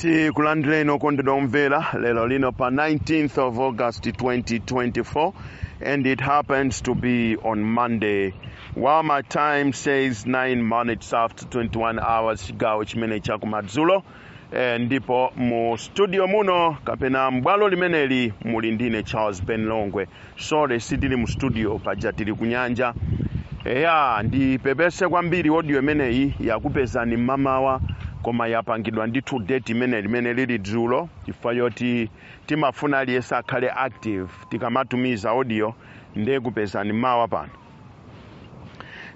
tikulandireni okondedwa omvera lero lino pa 19th of august 2024 and it happens to be on monday while my time says 9 minutes after 21 hours chigawo chimene chakumadzulo eh, ndipo mu studio muno kapena m'bwalo limeneli muli ndine charles ben longwe sorry sitili mu studio paja tili kunyanja eya ndipepese kwambiri audio imeneyi yakupezani mmamawa koma yapangidwa ndithu date imene limene lili dzulo chifukwa choti timafuna aliyense akhale active tikamatumiza audio ndiye ikupezani mawa pano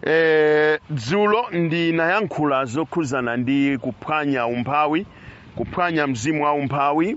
e, dzulo ndinayankhula zokhuzana ndi kuphwanya umphawi kuphwanya mzimu wa umphawi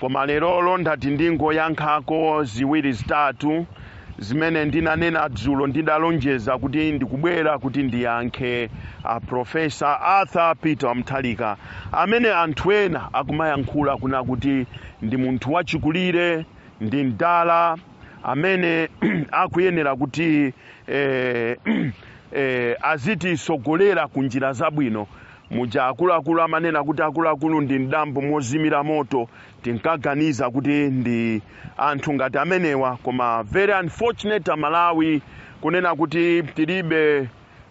Koma lerolo ndati ndingoyankhako ziwiri zitatu zimene ndinanena dzulo ndidalonjeza kuti ndikubwera kuti ndiyankhe a Professor Arthur Peter wa Mutharika amene anthu ena akumayankhula kunena kuti ndi munthu wachikulire ndi mdala amene akuyenera kuti eh, eh, azititsogolera ku njira zabwino Muja akuluakulu amanena kuti akuluakulu ndi m'dambo mozimira moto, tinkaganiza kuti ndi anthu ngati amenewa koma very unfortunate a Malawi kunena kuti tilibe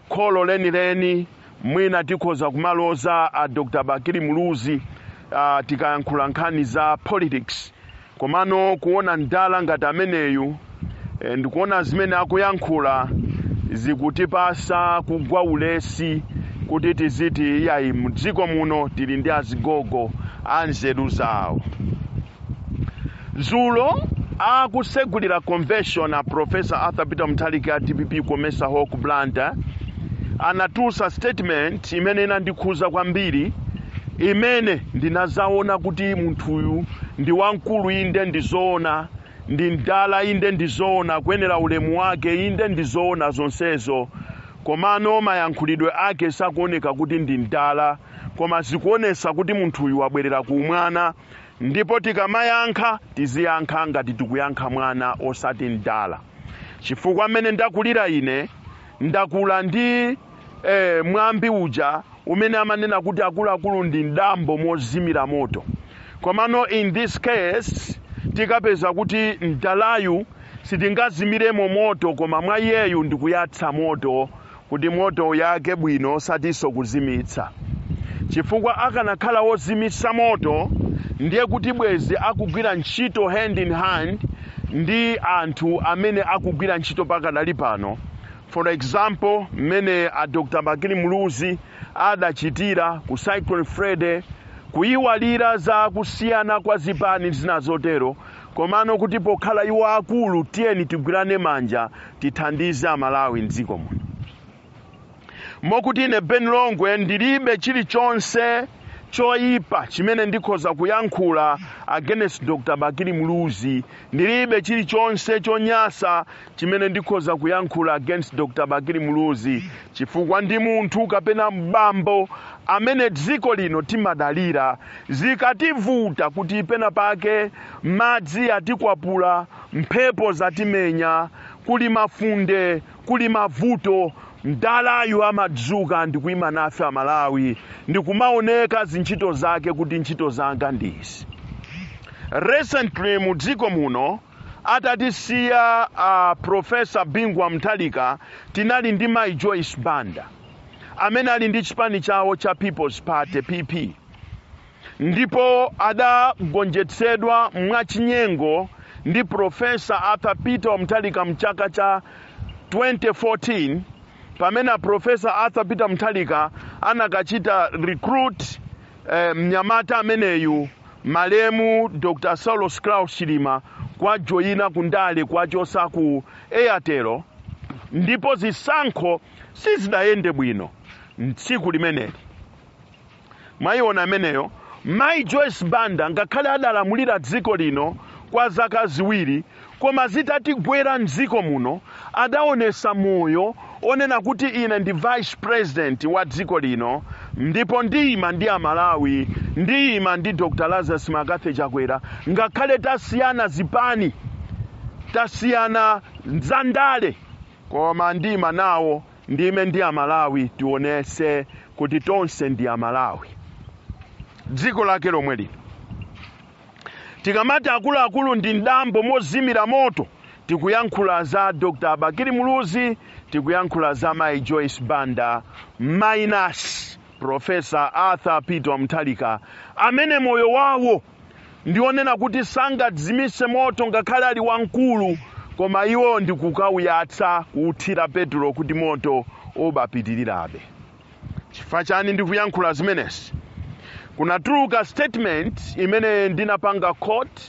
kholo lenileni mwina tikhoza kumaloza a Dr Bakili Muluzi uh, tikayankhula nkhani za politics Komano kuona mdala ngati ameneyu and kuona zimene akuyankhula zikutipasa kugwa ulesi kuti tiziti iyayi mdziko muno tili ndi azigogo anzeru zawo. Dzulo akutsegulira convention a Prof. Arthur Peter Mutharika a dpp Comesa Hall ku Blantyre anatulutsa statement imene inandikhuza kwambiri imene ndinazawona kuti munthuyu ndi wamkulu inde ndizoona ndi mdala inde ndizoona akuyenela ulemu wake inde ndizoona zonsezo komano mayankhulidwe ake sakuoneka kuti ndi mdala koma zikuonesa kuti munthuyu wabwerela ku umwana ndipo tikamayankha tiziyankha ngati tikuyankha mwana osati mdala chifukwa mmene ndakulira ine ndakula ndi eh, mwambi uja umene amanena kuti akuluakulu ndi mdambo mozimira moto komano in this case tikapeza kuti mdalayu sitingazimiremo moto koma mwa iyeyu ndikuyatsa moto kuti moto uyake bwino osatinso kuzimitsa chifukwa akanakhala wozimitsa moto ndiye kuti bwezi akugwira ntchito hand in hand ndi anthu amene akugwira ntchito pakadali pano For example, mmene a Dr. Bakili Muluzi adachitira ku Cyclone Freddy, kuyiwalira za kusiyana kwa zipani zina zotero, komano kuti pokhala iwo akulu tiyeni tigwirane manja tithandize Amalawi m'dziko muno. Mokuti ine Ben Longwe ndilibe chilichonse choyipa chimene ndikhoza kuyankhula against Dr. Bakili Muluzi, ndilibe chilichonse chonyasa chimene ndikhoza kuyankhula against Dr. Bakili Muluzi chifukwa ndi munthu kapena mbambo amene dziko lino timadalira zikativuta kuti pena pake madzi atikwapula mphepo zatimenya kuli mafunde kuli mavuto mdalayu amadzuka ndikuima nafe amalawi ndikumaoneka zintchito zake kuti ntchito zanga ndizi recently mu dziko muno Atatisiya a Professor Bingu wa Mutharika tinali ndi Mayi Joyce Banda amene ali ndi chipani chawo cha People's Party PP ndipo adagonjetsedwa mwachinyengo ndi Professor Arthur Peter wa Mutharika mchaka cha 2014 pamene a Professor Arthur Peter Mutharika anakachita recruit eh, mnyamata ameneyu Malemu Dr Saulos Klaus Chilima kuwajoina ku ndale kuwachosa ku Airtel ndipo zisankho sizidayende bwino mtsiku limeneli. Mwaiona ameneyo. Mai Joyce Banda ngakhale adalamulira dziko lino kwa zaka ziwiri, koma zitatigwera mdziko muno adaonesa moyo onena kuti ine ndi vice president wa dziko lino ndipo ndiyima ndi amalawi ndiyima ndi dr lazarus McCarthy chakwera ngakhale tasiyana zipani tasiyana za ndale koma ndiyima nawo ndiime ndi amalawi tionese kuti tonse ndi amalawi dziko lake lomwe lino Tikamati akuluakulu ndi m'dambo mozimira moto, tikuyankhula za Dr Bakili Muluzi, tikuyankhula za mayi Joyce Banda minus Professor Arthur Peter wa Mutharika amene moyo wawo ndi onena kuti sangadzimitse moto ngakhale ali wamkulu, koma iwo ndi kukauyatsa, kuuthira petulo kuti moto ubapitirirabe. chifukwa chani ndikuyankhula zimenezi kunatuluka statement imene ndinapanga quote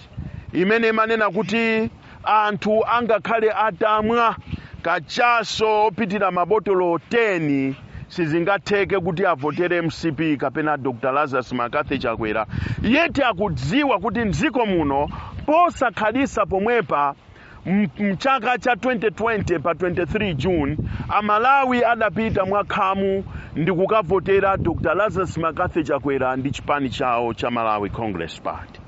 imene imanena kuti anthu angakhale atamwa kachaso opitira mabotolo 10 sizingatheke kuti avotere mcp kapena dr lazarus McCarthy chakwera yet akudziwa kuti mdziko muno posakhalisa pomwepa Mchaka cha 2020 pa 23 June, a Malawi adapita mwa khamu ndikukavotera Dr Lazarus Mccarthy Chakwera ndi chipani chawo cha Malawi Congress Party.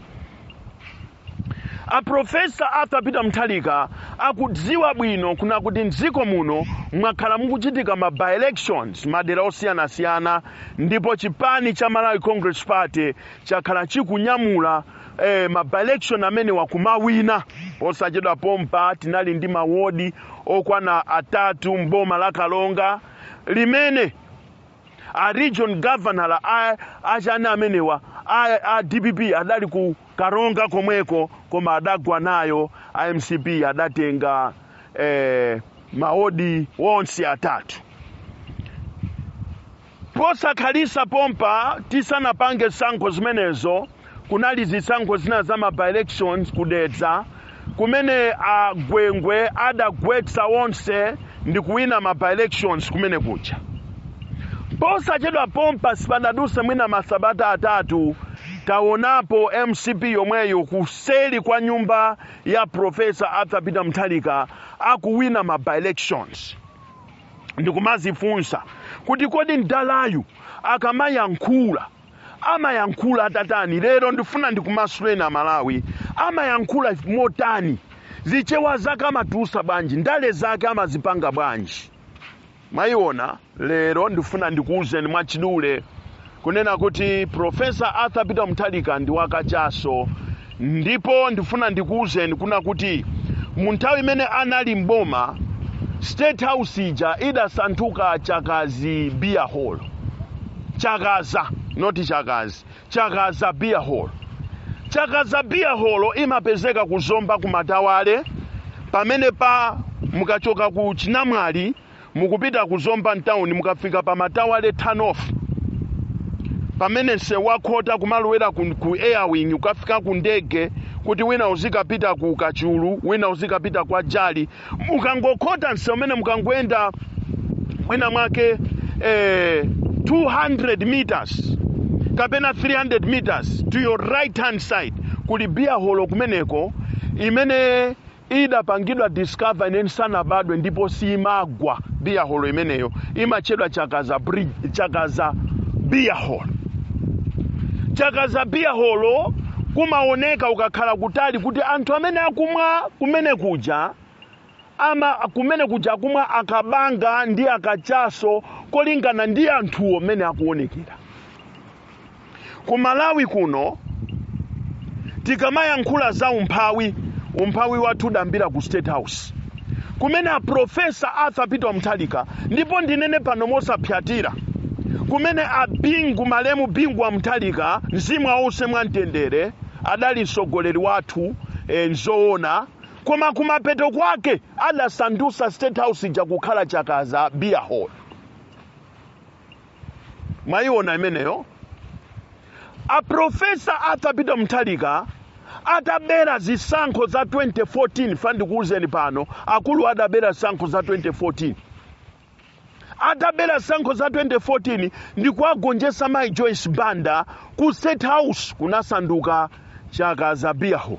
A Professor Arthur Peter Mutharika akudziwa bwino kuna kuti mdziko muno mwakhala mukuchitika ma by-elections madera osiyanasiyana ndipo chipani cha Malawi Congress Party chakhala chikunyamula eh, ma by-election amenewa kumawina posachedwa pompa tinali ndi mawodi okwana atatu mboma la karonga limene a region governor a achana amenewa a, a dpp adali ku karonga komweko koma adagwa nayo a mcp adatenga eh, mawodi onse atatu Posakhalisa pompa tisanapange sankho zimenezo kunali zisankho zina za ma by-elections ku Dedza kumene a Gwengwe adagwetsa onse ndikuwina ma by-elections kumene kuja. Posachedwa pompa sipadaduse mwina masabata atatu tawonapo mcp yomweyo kuseli kwa nyumba ya Prof. Arthur Peter Mutharika akuwina ma by-elections. ndikumazifunsa kuti kodi mdalayu akamayankhula amayankhula atatani lero ndifuna ndikumasuleni amalawi amayankhula motani zichewa zake amatusa bwanji ndale zake amazipanga bwanji mwayiona lero ndifuna ndikuwuzeni mwachidule kunena kuti professor arthur peter muthalika ndi wakachaso ndipo ndifuna ndikuwuzeni kuna kuti mu nthawi imene anali mboma state house ija idasanthuka chakazi beer hall chakaza not chakazi chakaza beer hall chakaza beer hall imapezeka ku zomba ku matawale pamene pa mukachoka ku chinamwali mukupita ku zomba mtown mukafika pa matawale turn off pamene msewu wakhota kumalowera ku, ku airwing ukafika ku ndege kuti wina uzikapita ku kachulu wina uzikapita kwa jali mukangokhota msewu umene mukangoyenda mwina mwake eh, 200 meters kapena 300 meters to your right hand side kuli beer hall kumeneko imene Idapangidwa discover ine ndisanabadwe ndipo siimagwa beer holo imeneyo. Imatchedwa Chakaza beer holo. Chakaza beer holo kumaoneka ukakhala kutali kuti anthu amene akumwa kumene kuja ama kumene kuja akumwa akabanga ndi akachaso kolingana ndi anthuwo mmene akuonekera. ku malawi kuno tikamayankhula za umphawi umphawi wathu udayambira ku state house kumene a profesa arthur peter muthalika ndipo ndinene pano mosapsatira kumene a bingu malemu bingu wa muthalika mzimu uwuse mwamtendere adali mtsogoleri wathu e, nzoona koma kumapeto kwake adasandusa state house ija kukhala chakaza beer hall mwayiona imeneyo aprofesa atha peter muthalika atabera zisankho za 2014 ifa ndikuwuzeni pano akulu adabera zisankho za 2014 atabera zisankho za 2014 ndi kuwagonjetsa mayi joyce banda ku state house kunasanduka chakaza beer hall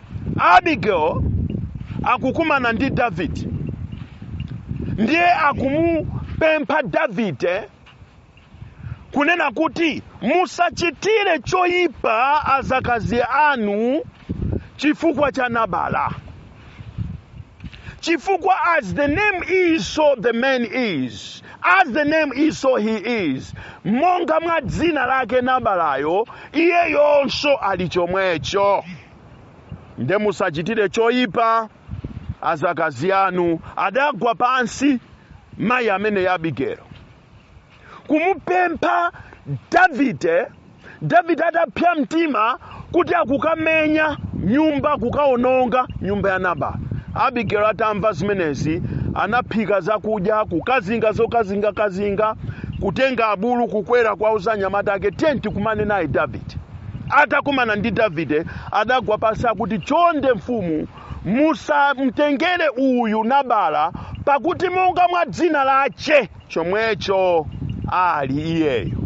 Abigail akukumana ndi Davide ndiye akumupempha Davide kunena kuti musachitire choyipa adzakazi anu chifukwa cha Nabala chifukwa as the name is so the man is as the name is so he is monga mwa dzina lake nabalayo iyeyonso ali chomwecho nde musachitire choyipa adzakazi anu adagwa pansi mayi ameneyu abigero kumupempha davide davide adapsa mtima kuti akukamenya nyumba kukaononga nyumba ya nabala abigero atamva zimenezi anaphika zakudya kukazinga zokazingakazinga kutenga abulu kukwera kuwauza anyamata ake tiyeni tikumane naye davide atakumana ndi davide adagwa pansi akuti chonde mfumu musamtengere uyu nabala pakuti monga mwa dzina lache chomwecho ali iyeyo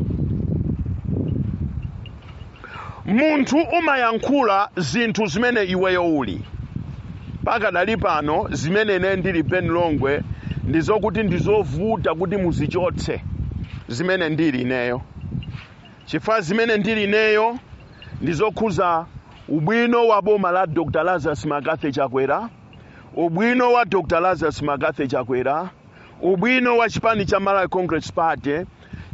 munthu umayankhula zinthu zimene iweyo uli pakadali pano zimene ineyo ndili ben longwe ndi zokuti ndizovuta kuti muzichotse zimene ndili ineyo Chifukwa zimene ndili ineyo ndi zokhuza ubwino wa boma la Dr Lazarus Mccarthy Chakwera, ubwino wa Dr Lazarus Mccarthy Chakwera, ubwino wa chipani cha Malawi Congress Party,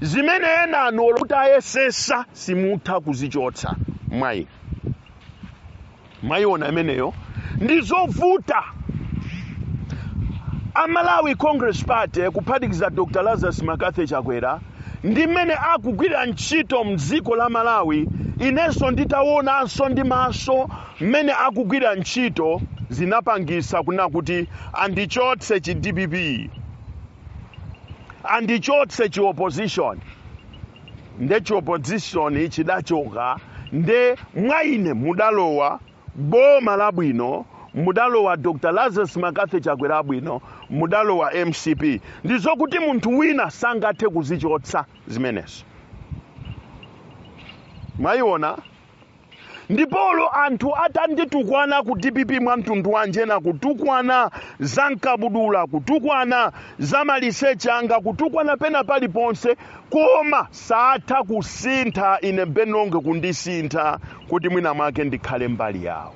zimene enanu olo mutayesetsa simutha kuzichotsa mwa ine. mwayiona imeneyo ndizovuta amalawi congress party kuphatikiza dr lazarus mccarthy chakwera ndi mmene akugwirira ntchito mdziko la malawi inenso nditawonanso ndi maso mmene akugwirira ntchito zinapangisa kunena kuti andichotse chi dpp andichotse chi opposition nde chi opposition chidachoka nde mwa ine mudalowa boma labwino mudalowa dr lazarus mccarthy chakwera abwino mudalowa mcp ndizokuti munthu wina sangathe kuzichotsa zimenezo mwaiona ndipolo anthu atanditukwana ku dpp mwa mtundu wanji ena kutukwana za mkabudula kutukwana za maliseche anga kutukwana pena paliponse koma sangathe kusintha ine ben longwe kundisintha kuti mwina mwake ndikhale mbali yawo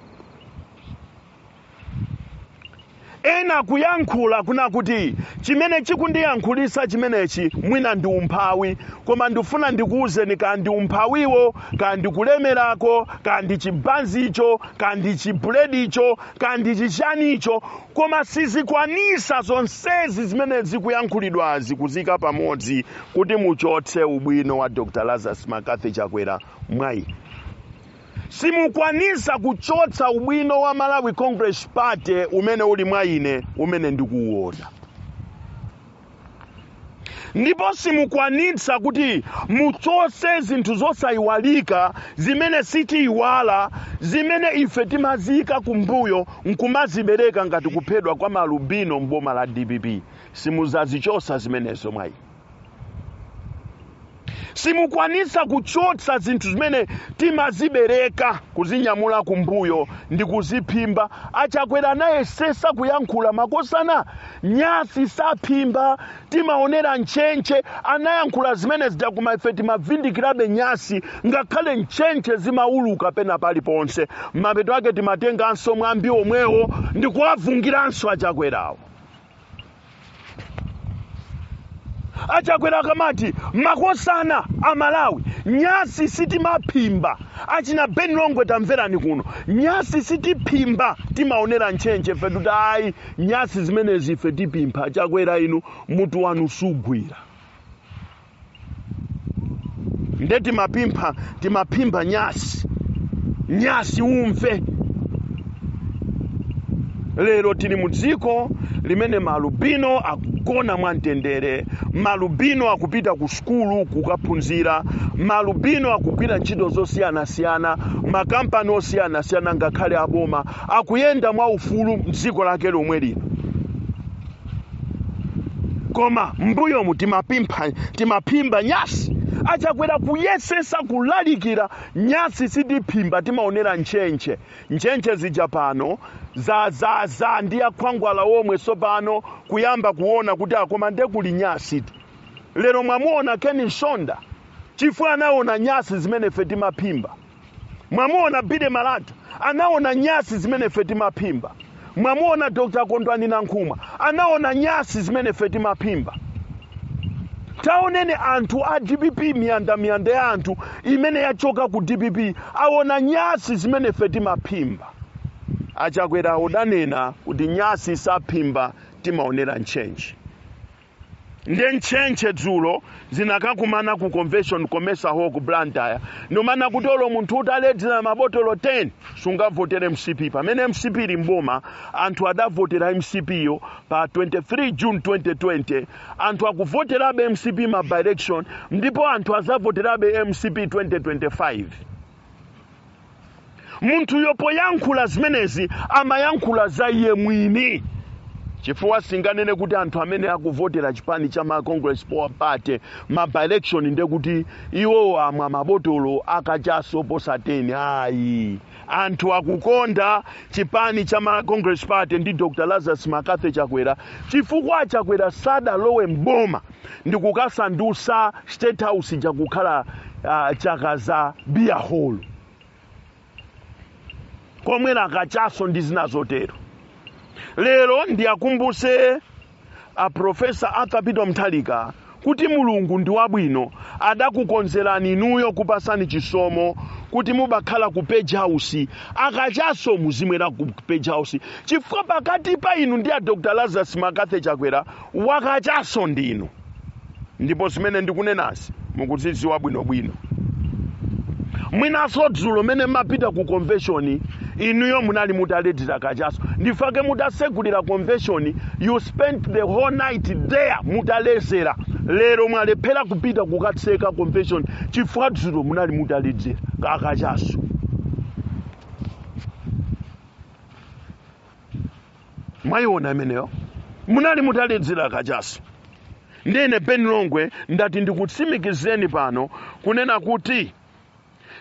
ena kuyankhula kunena kuti chimene chikundiyankhulisa chimenechi mwina ndi umphawi koma ndifuna ndikuwuzeni kaya ndi umphawiwo kaya ndi kulemerako kaya ndi chibanzicho kaya ndi chibuledicho kaya ndi chichanicho koma sizikwanisa zonsezi zimene zikuyankhulidwazi kuziyika pamodzi kuti muchotse ubwino wa dr lazarus mccarthy chakwera mwa ine simukwanisa kuchotsa ubwino wa Malawi Congress Party umene uli mwa ine umene ndikuuona ndipo simukwanitsa kuti muchotse zinthu zosayiwalika zimene sitiyiwala zimene ife timaziyika kumbuyo nkumazibereka ngati kuphedwa kwa maalubino m'boma la dpp simuzazichotsa zimenezo mwa ine simukwanitsa kuchotsa zinthu zimene timazibereka kuzinyamula kumbuyo ndi kuziphimba achakwera anayesesa kuyankhula makosana nyasi saphimba timaonera ntchentche anayankhula zimene zija koma ife timavindikirabe nyasi ngakhale ntchentche zimauluka pena paliponse mapeto ake timatenganso mwambi omwewo ndi kuwavungiranso achakwerawo achakwera akamati makosana amalawi nyasi sitimaphimba achina ben longwe tamverani kuno nyasi sitiphimba timaonera ntchentche ife tikuti ayi nyasi zimenezi ife tiphimba achakwera inu mutu wanu sugwira nde timapimpha timaphimba nyasi nyasi umve lero tili mu dziko limene maalubino akugona mwamtendere maalubino akupita ku sukulu kukaphunzira maalubino akugwira ntchito zosiyanasiyana m'makampani osiyanasiyana ngakhale aboma akuyenda mwaufulu mdziko lake lomwe lino koma mbuyomu timaphimba nyasi achakwera kuyesesa kulalikira nyasi sitiphimba timaonera ntchentche ntchentche zija pano za za za ndi akhwangwala omwe sopano kuyamba kuona kuti akoma nde kuli nyasi tu lero mwamuona ken msonda chifukwa anaona nyasi zimene ife timaphimba mwamuona bide malata anaona nyasi zimene ife timaphimba mwamuona dr kondwani nankhumwa anaona nyasi zimene ife timaphimba taoneni anthu a dpp miyanda miyanda ya anthu imene yachoka ku dpp aona nyasi zimene ife timaphimba achakwera adanena kuti nyasi saphimba timaonera ntchentche nde ntchentche dzulo zinakakumana ku convention comesa hall ku blantyre ndikumanena kuti olo munthu utaledzera mabotolo 10 sungavotere mcp pamene mcp ili mboma anthu adavotera mcp yo pa 23 june 2020 anthu akuvoterabe mcp ma by election ndipo anthu azavoterabe mcp 2025 munthuyo poyankhula zimenezi amayankhula za iye mwini chifukwa asinganene kuti anthu amene akuvotera chipani cha malawi congress party ma by-election nde kuti iwowo amwa mabotolo akachaso oposa 10 ayi anthu akukonda chipani cha malawi congress party ndi dr lazarus mccarthy chakwera chifukwa chakwera sadalowe mboma ndi kukasandutsa state house ija kukhala chakaza beer hall komwerako kachaso ndi zina zotero lero ndiwakumbuse a profesa arthur peter mutharika kuti mulungu ndi wabwino adakukonzerani inuyo kupasani chisomo kuti mubakhala ku page house akachaso muzimwera ku page house chifukwa pakati pa inu ndi a dr lazarus mccarthy chakwera Wakachaso ndinu ndipo zimene ndikunenazi mukuzidziwa bwino bwino. Mwinanso dzulo mmene mumapita ku convention inuyo munali mutaledzera kachaso ndi chifukwa chake mutasegulira convention you spent the whole night there mutaledzera lero mwalephera kupita kukatseka convention chifukwa dzulo munali mutaledzera kakachaso. mwayiona imeneyo munali mutaledzera kachaso ndiye ine ben longwe ndati ndikutsimikizireni pano kunena kuti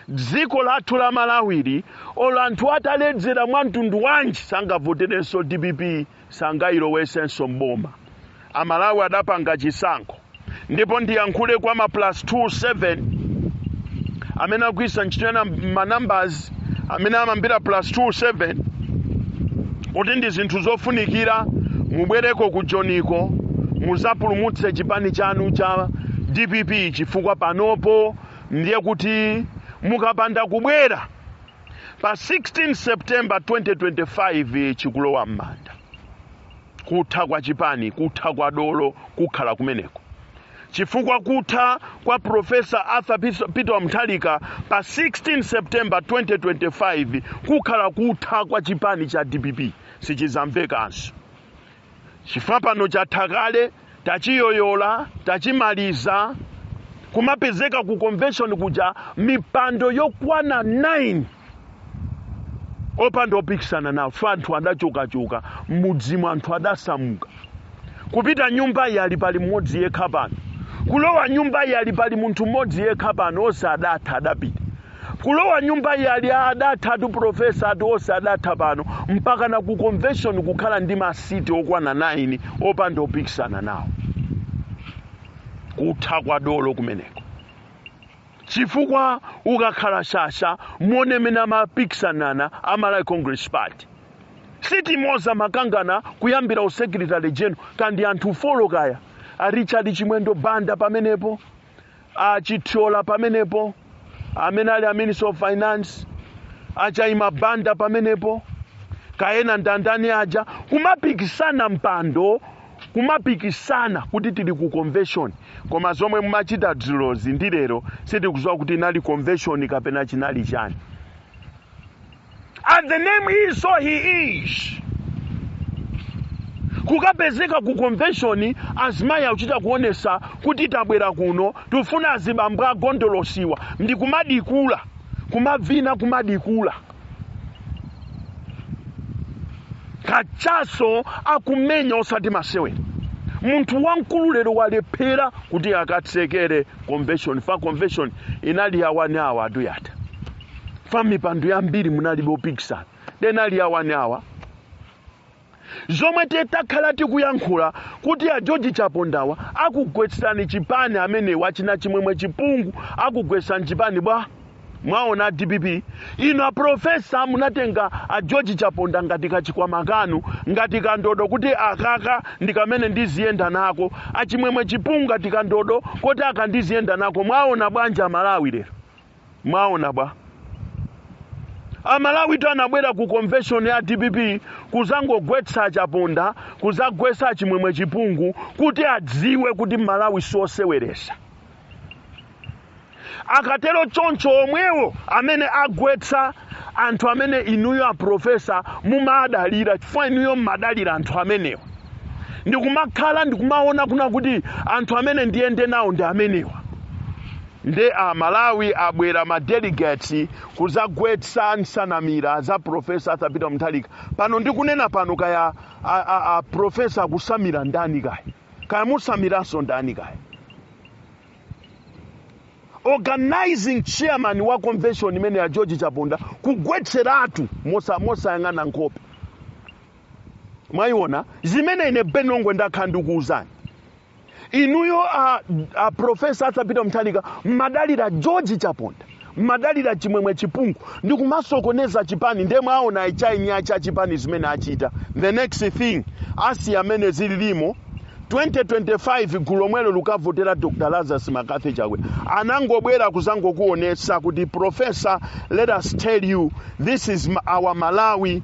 dziko lathu la malawi li olo anthu ataledzera mwa mtundu wanji sangavoterenso dpp sangayilowesenso mboma Amalawi adapanga chisankho ndipo ndiyankhule kwa ma plus 2 7 amene akugwiritsa ntchito ma numbers amene amayambira plus 2 7 kuti ndi zinthu zofunikira mubwereko ku joniko muzapulumutse chipani chanu cha dpp chifukwa panopo ndiye kuti mukapanda kubwera pa 16 september 2025 chikulowa m'manda kutha kwa chipani kutha kwa dolo kukhala kumeneko chifukwa kutha kwa professor arthur peter wa mutharika pa 16 september 2025 kukhala kutha kwa chipani cha dpp sichizamvekanso chifukwa pano chatha kale tachiyoyola tachimaliza kumapezeka ku convention kuja mipando yokwana 9 opanda opikisana nawo fa anthu adachokachoka m'mudzimu anthu adasamuka kupita nyumba iyi yali pali mmodzi yekha pano kulowa nyumba iyi yali pali munthu mmodzi yekha pano onse adatha adapita Kulowa nyumba iyi ali adathatu professor ati onse adatha pano mpakana ku convention kukhala ndi ma seat okwana 9 opanda opikisana nawo. Kutha kwa dolo kumeneko. Chifukwa ukakhala shasha muone mmene amapikisanana a Malawi Congress Party. Seat imodzi amakangana kuyambira u secretary general kaya ndi anthu folo kaya a Richard Chimwendo Banda pamenepo. achithyola pamenepo amene ali a minister of finance achayima banda pamenepo kayena ndandani aja kumapikisana mpando kumapikisana kuti tili ku convention koma zomwe mumachita dzulozi ndi lero sitikuziwa kuti inali convention kapena chinali chani and the name is so he is kukapezeka ku convention azimayi akuchita kuonesa kuti tabwera kuno tifuna azibambo agondolosiwa ndi kumadikula kumavina kumadikula kachaso akumenya osati masewera munthu wamkulu lero walephera kuti akatsekere convention fa convention inali yawani awa aduyata fa mipando yambiri munalibe opikisana nde inali yawani awa zomwe takhala tikuyankhula kuti a george chapondawa akugwetsani chipani amene wa achina chimwemwe chipungu akugwetsani chipani bwa mwaona dpp inu aprofesa munatenga a george chaponda ngati kachikwama kanu ngati kandodo kuti akaka ndi kamene ndiziyenda nako achimwemwe chipungu ngati kandodo kuti aka ndiziyenda nako mwaona bwanji amalawi lero mwaona bwa amalawitu anabwera ku convention ya dpp kuzangogwetsa achaponda kuzagwetsa chimwemwe chipungu kuti adziwe kuti malawi sioseweresa akatero choncho omwewo amene agwetsa anthu amene inuyo aprofesa mumadalira chifukwa inuyo mmadalira anthu amenewa ndikumakhala ndikumaona kuna kuti anthu amene ndiyende nawo ndi amenewa Nde a Malawi abwera ma delegates kuzagwetsa nsanamira za Prof. Arthur Peter Mutharika. Pano ndikunena pano kaya a, a, a Prof. akusamira ndani kaya? Kaya musamiranso ndani kaya? organizing chairman wa convention imeneyi a George Chaponda kugwetseratu mosa mosayang'ana nkhope mwayiona zimene ine Ben Longwe ndakhala ndikuwuzani inuyo a, a profesa arthur peter mutharika mmadalira george chaponda mmadalira chimwemwe chipungu ndi kumasokoneza chipani ndiye mwaona achainyachi cha chipani zimene achita the next thing as mmene zililimo 2025 gulu lomwelo lukavotera dr lazarus mccarthy chakwera anangobwera kuzangokuonesa kuti profesa let us tell you this is ma- our malawi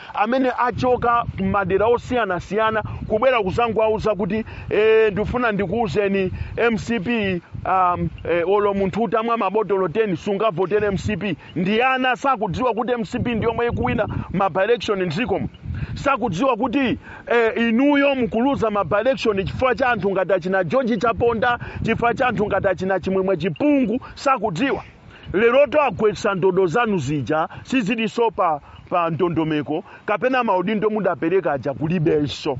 amene achoka m'madera osiyanasiyana kubwera kuzangowauza kuti e, ndifuna ndikuwuzeni mcp um, e, olo munthu utamwa mabotolo 10 sungavotere mcp ndi ana sakudziwa kuti mcp ndi yomwe ikuwina ma by-election mdzikomo sakudziwa kuti eh, inuyo mukuluza ma by-election chifukwa cha anthu ngati achina george chaponda chifukwa cha anthu ngati achina chimwemwe chipungu sakudziwa Lerotu agwetsa ndodo zanu zija sizilinso pa pa ndondomeko kapena maudindo mudapereka aja kulibenso.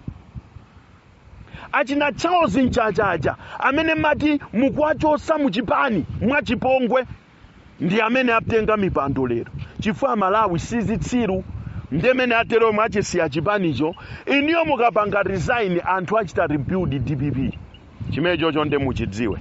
Achina Charles Mchacha aja amene mmati mukuwachotsa mu chipani mwachipongwe ndi amene atenga mipando lero chifukwa Malawi si zitsiru nde mmene ateromo mwachisiya chipanicho inuyo mukapanga resign anthu achita rebuild dpp chimenechocho nde muchidziwe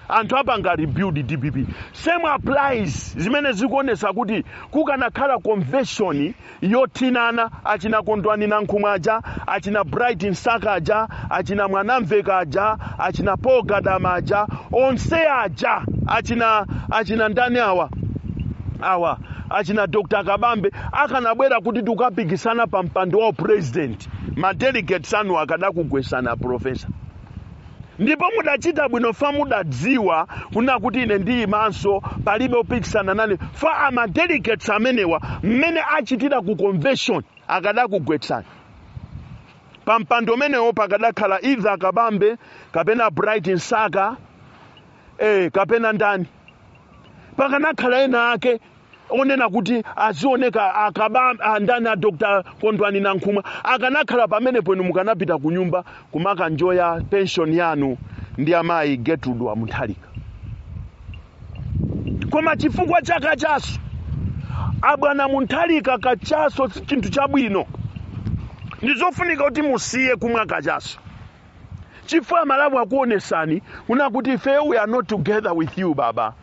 anthu apanga rebuild dpp same applies zimene zikuonesa kuti kukanakhala convention yothinana achina kondwani nankhumwa aja achina bright msaka aja achina mwanamveka aja achina paul gadama aja onse aja achina achina ndani awa awa achina dr kabambe akanabwera kuti tikapikisana pa mpando wa president ma delegates anu akadakugwesani profesa Ndipo mudachita bwino fa mudadziwa kunena kuti ine ndiyimanso, palibe opikisana nane fa a ma delegates amenewa mmene achitira ku convention akadakugwetsani pa mpando umenewo pakadakhala either Kabambe kapena Bright Msaka eh kapena ndani pakanakhala ena ake onena kuti azioneka akaba a ndani a dr kondwani nankhumwa akanakhala pamenepo inu mukanapita ku nyumba kumakanjoya pension yanu ndi amayi gertrude wa mutharika koma chifukwa cha kachaso abwana mutharika kachaso si chinthu chabwino ndi zofunika kuti musiye kumwa kachaso chifukwa amalawi akuonetsani kuna kuti ife we are not together with you baba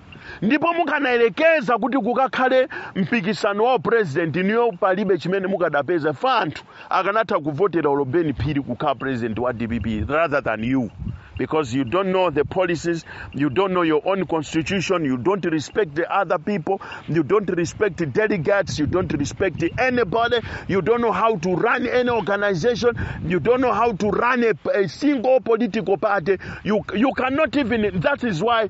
ndipo mukanayerekeza kuti kukakhale mpikisano wa president niyo palibe chimene mukadapeza fa anthu akanatha kuvotera olo ben phiri kukhala president wa dpp rather than you because you don't know the policies you don't know your own constitution you don't respect the other people you don't respect the delegates you don't respect anybody you don't know how to run any organization you don't know how to run a, a single political party you, you cannot even that is why